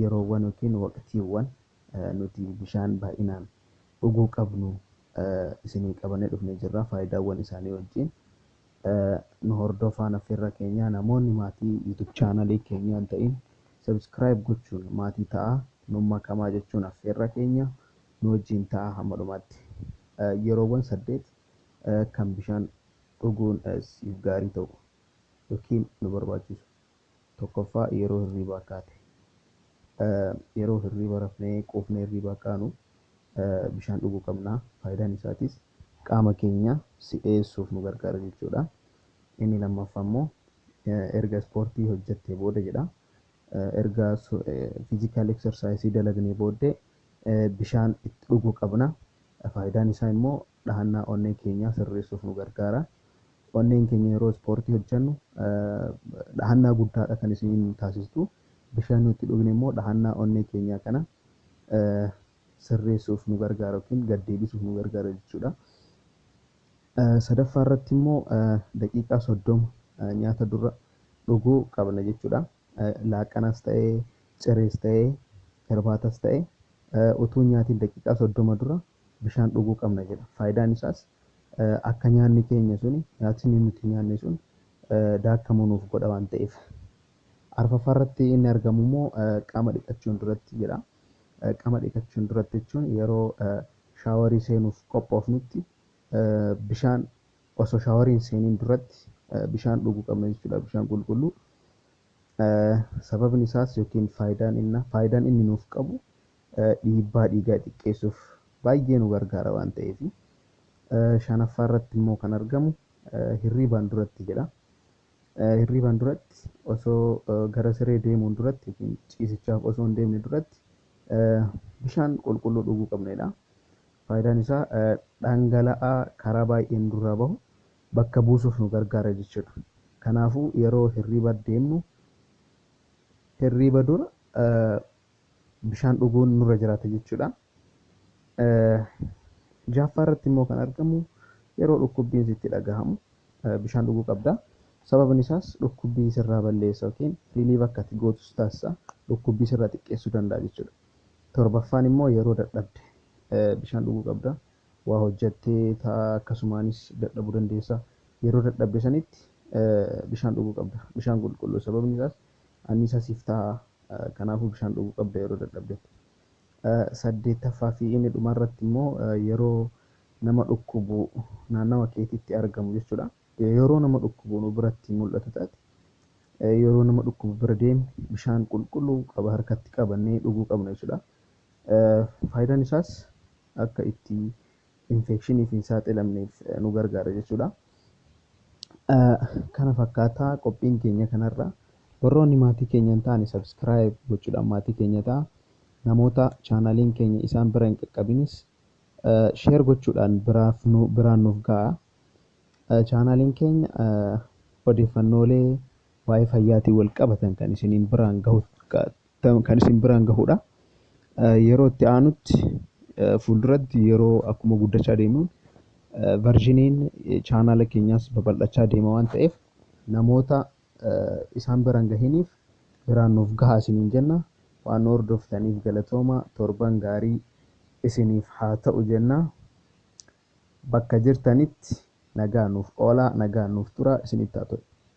yeroowwan yookiin waqtiiwwan nuti bishaan baay'inaan dhuguu qabnu isinii qabannee dhufnee jirra faayidaawwan isaanii wajjiin nu hordoofaan affeerraa keenyaa namoonni maatii YouTube chaanalii keenyaa hin ta'in subscribe gochuun maatii ta'aa nuun makamaa jechuun affeerraa keenya nu wajjiin ta'aa hamma dhumaatti yeroowwan saddeet kan bishaan dhuguun siif gaarii ta'u yookiin nu barbaachisu 1ffaa yeroo hirriibaa kaate yeroo hirriiba rafnee quufnee hirriibaa kaanu bishaan dhuguu qabna faayidaan isaatis qaama keenya si'eessuuf nu gargaara jechuudha inni lammaffaa immoo erga ispoortii hojjattee booda jedha erga fiizikaal eksarsaayisii dalagnee booddee bishaan itti dhuguu qabna faayidaan isaa immoo dhahannaa onnee keenyaa sirreessuuf nu gargaara. Onneen keenya yeroo ispoortii hojjennu dhahannaa guddaadha kan isiin taasistu. Bishaan yoo itti dhugne immoo dhahannaa onnee keenyaa kana sirreessuuf nu gargaara yookiin gad deebisuuf nu gargaara jechuudha. Sadaffaa irratti immoo daqiiqaa soddoma nyaata dura dhuguu qabna jechuudha. Laaqanas ta'ee, cirees ta'ee, hirbaatas ta'ee utuu nyaatiin daqiiqaa soddoma dura bishaan dhuguu qabna jedha. Faayidaan isaas akka nyaanni keenya sun, nyaatsni nuti nyaanne sun daakkamu nuuf godha waan ta'eef. Arfaffaa irratti inni argamu immoo qaama dhiqachuun duratti jedha. Qaama dhiqachuun duratti jechuun yeroo shaawarii seenuuf qophoofnutti bishaan osoo shaawarii hin seeniin duratti bishaan dhuguu qabna jechuudha. Bishaan qulqulluu. Sababni isaas yookiin faayidaan inni nuuf qabu dhiibbaa dhiigaa xiqqeessuuf baay'ee nu gargaara waan ta'eef. Shanaffaa irratti immoo kan argamu hirriibaan duratti jedha. Hirriibaan duratti osoo gara siree deemuun duratti yookiin ciisichaaf osoo hin deemne duratti bishaan qulqulluu dhuguu qabna jedha. Faayidaan isaa dhangala'aa karaa baay'een nurraa bahu bakka buusuuf nu gargaara jechuudha. Kanaafuu yeroo hirriiba deemnu hirriiba dura bishaan dhuguun nurra jiraata jechuudha. Jaaffaa irratti immoo kan argamu yeroo dhukkubbiin sitti dhagahamu bishaan dhuguu qabda. Sababni isaas dhukkubbii sirraa balleessa yookiin riiliif akka ati gootu si taasisa. Dhukkubbii sirraa xiqqeessuu danda'a jechuudha. Torbaffaan immoo yeroo dadhabde bishaan dhuguu qabda. Waa hojjattee ta'a akkasumaanis dadhabuu dandeessa. Yeroo dadhabde sanitti bishaan dhuguu qabda. Bishaan qulqulluu sababni isaas anniisaa siif ta'a, kanaafuu bishaan dhuguu qabda yeroo dadhabdetti. Saddeettaffaa fi inni dhumaa irratti immoo yeroo nama dhukkubu naannawa keetitti argamu jechuudha. Yeroo nama dhukkubu nu biratti mul'atu taate yeroo nama dhukkubu bira deemne bishaan qulqulluu qaba harkatti qabannee dhuguu qabna jechuudha. Faayidaan isaas akka itti infekshiniif hin saaxilamneef nu gargaara jechuudha. Kana fakkaataa qophiin keenya kanarra. Warroonni maatii keenya hin taane subscribe gochuudhaan maatii keenya ta'a. Namoota chaanaaliin keenya isaan bira hin qaqqabinis share gochuudhaan biraaf nu biraan nuuf ga'a. Chaanaaliin keenya odeeffannoolee waa'ee fayyaatiin wal qabatan kan isiniin biraan gahu kan isin biraan gahudha. Yeroo itti aanutti fuulduratti yeroo akkuma guddachaa deemuun varjiniin chaanaala keenyaas babal'achaa deema waan ta'eef namoota isaan biraan gahiniif biraan nuuf gahaa isiniin jenna. Waan nu hordoftaniif galatooma torban gaarii isiniif haa ta'u jenna. Bakka jirtanitti nagaa nuuf oolaa nagaa nuuf turaa isinitti haa ta'u.